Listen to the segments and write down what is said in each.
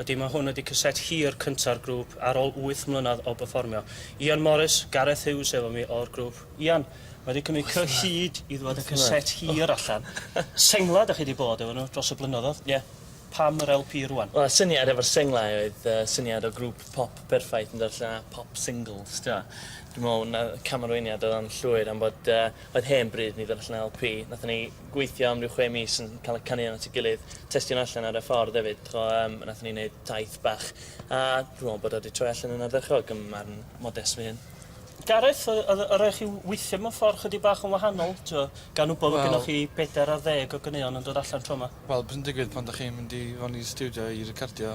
Ydy, mae hwn ydy caset hir cynta'r grŵp ar ol wyth mlynedd o berfformio. Ian Morris, Gareth Hughes efo mi o'r grŵp. Ian, mae di cymryd cyhyd i ddwad y caset hir allan. Senglau da chi di bod efo nhw dros y blynyddodd, ie. Pam yr LP rwan? Wel y syniad efo'r senglau oedd yy syniad o grŵp pop perffaith yn dod allan a pop singles t'mo. Dwi me'wl na camarweiniad oedd o'n llwyr am bod yy oedd hen bryd i ni ddod allan a LP. Nathon ni gweithio am ryw chwe mis yn cael y caneuon at ei gilydd, testio nhw allan ar y ffordd hefyd, ch'mo' yym nathon ni neud taith bach a dwi me'wl bod o 'di troi allan yn ardderchog ym marn modest fy hun. Gareth o- o'dd o' rai' chi w- weithio mewn ffor chydig bach yn wahanol t'wo' gan wbod fod Wel. gynnoch chi pedair ar ddeg o ganeuon yn dod allan tro 'ma? Wel p'un digwydd pan 'dach chi'n mynd i fewn i stiwdio i recordio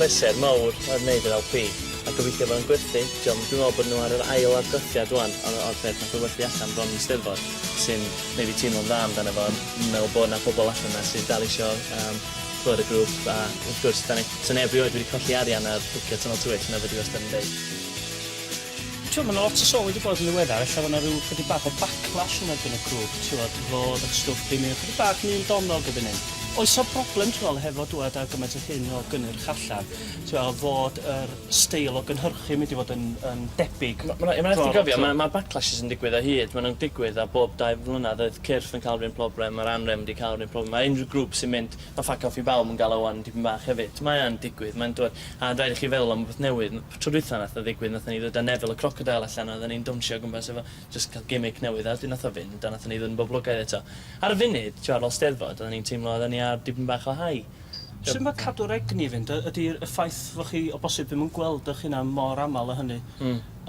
Pleser mowr oedd neud yr LP, a gobeithio fod o'n gwerthu, diom, dwi'n meddwl bod nhw ar yr ail argraffiad ŵan o'r o'r peth nath o werthu allan bron yn Steddfod, sy'n neud fi teimlo'n dda amdano fo, ond fi'n meddwl bod na pobl allan yna sydd dal isio yym clywed y grŵp, a wrth gwrs, 'dan ni, 'sa neb rioed wedi colli arian ar bwcio Tunnel to Witch, na fedri wastad yn deud. T'wod ma' 'na lot o sylwi 'di bod yn ddiweddar ella fo' 'na ryw chydig bach o backlash yn erbyn y grŵp t'wod fod y stwff di myn' chydig bach yn un donnol gyda ni. Oes 'na broblem ti'n me'wl hefo dŵad â gymaint o hyn o gynnyrch allan ti'n me'wl a fod yr steil o gynhyrchu mynd i fod yn yn debyg? Ma' ma' 'na ma' raid ti gofio ma' ma' backlashes yn digwydd o hyd ma' nw'n digwydd a bob dau flynadd oedd cyrff yn ca'l 'r un problem ma'r anrefn 'di ca'l 'r un problem a unrhyw grŵp sy'n mynd ma' ffyc off i bawb yn ga'l o ŵan dipyn bach hefyd mae o yn digwydd mae'n t'wod a rhaid i chi feddwl am rwbeth newydd m- Tro dwytha nath o ddigwydd nathon ni ddod a Neville y crocodeil allan a odden ni'n downsio o gwmpas efo jyst ca'l gimmick newydd a wedyn nath o fynd a nathon ni ddod yn boblogaidd eto. Ar y funud t'mo' ar ol Steddfod odden ni'n teimlo odden ni ar dipyn bach o high. Sut ma' cadw'r egni i fynd? Y- ydi y ffaith fo' chi o bosib ddim yn gweld ych hunan mor amal a hynny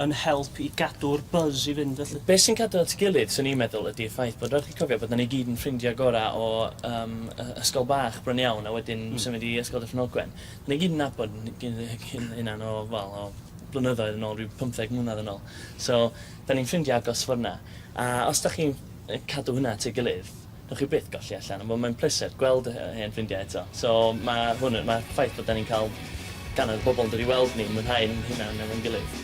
yn help i gadw'r buzz i fynd felly? Be' sy'n cadw at 'i gilydd swn i'n meddwl ydi y ffaith bod raid chi cofio bod 'na ni gyd yn ffrindia gora' o yym y- ysgol bach bron iawn a wedyn symud i Ysgol Dyffryn Ogwen. Ni gydnabod ni'n hunan o, wel, o blynyddoedd yn ôl, rhyw pymtheg mlynedd yn ôl. So, 'da ni'n ffrindiau agos ffor 'na. A os 'da chi'n cadw hynna at ei gilydd, newch chi byth golli allan. Wel, mae'n pleser gweld hen ffrindiau eto. So, mae hwn, mae'r ffaith bod 'da ni'n cael gannoedd o bobl yn dod i weld ni, mwynhau'n hunan efo'n gilydd.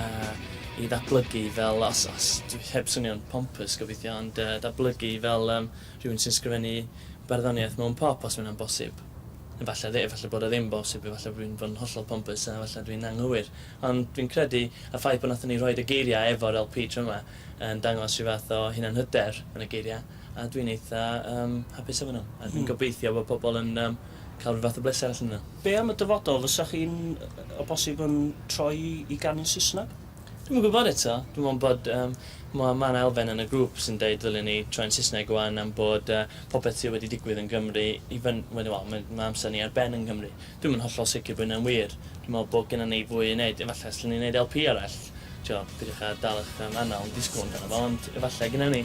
a i ddatblygu fel os os dwi heb swnio'n pompous gobeithio ond yy datblygu fel yym rhywun sy'n sgrifennu barddoniaeth mewn pop os ma' hynna'n bosib. Efalle ddi- efalle bod e ddim bosib efalle bo' fi'n bod yn hollol pompous a efalle dwi'n anghywir ond fi'n credu y ffaith bo' nathon ni rhoid y geiria' efo'r LP tro 'ma yn dangos rhyw fath o hunanhyder yn y geiria' A dwi'n eitha yym hapus am hynna a dwi'n gobeithio bod pobl yn yym cael rhyw fath o bleser allan o hynna. Be am y dyfodol, fysa chi'n o bosib yn troi i ganu'n Saesneg? Dwi'm yn gwybod eto. Dwi'n meddwl bod yym ma' ma' 'na elfen yn y grŵp sy'n deud ddylen ni troi'n Saesneg ŵan am bod yy popeth sy' wedi digwydd yn Gymru i fyn- wel ma' ma' amser ni ar ben yn Nghymru. Dwi'm yn hollol sicr bo' hynna'n wir. Dwi'n meddwl bod gynnon ni fwy i neud efallai os 'llwn ni neud LP arall t'wo' peidiwch â dal 'ych yym anal yn disgwl amdano fo ond efallai gynno ni.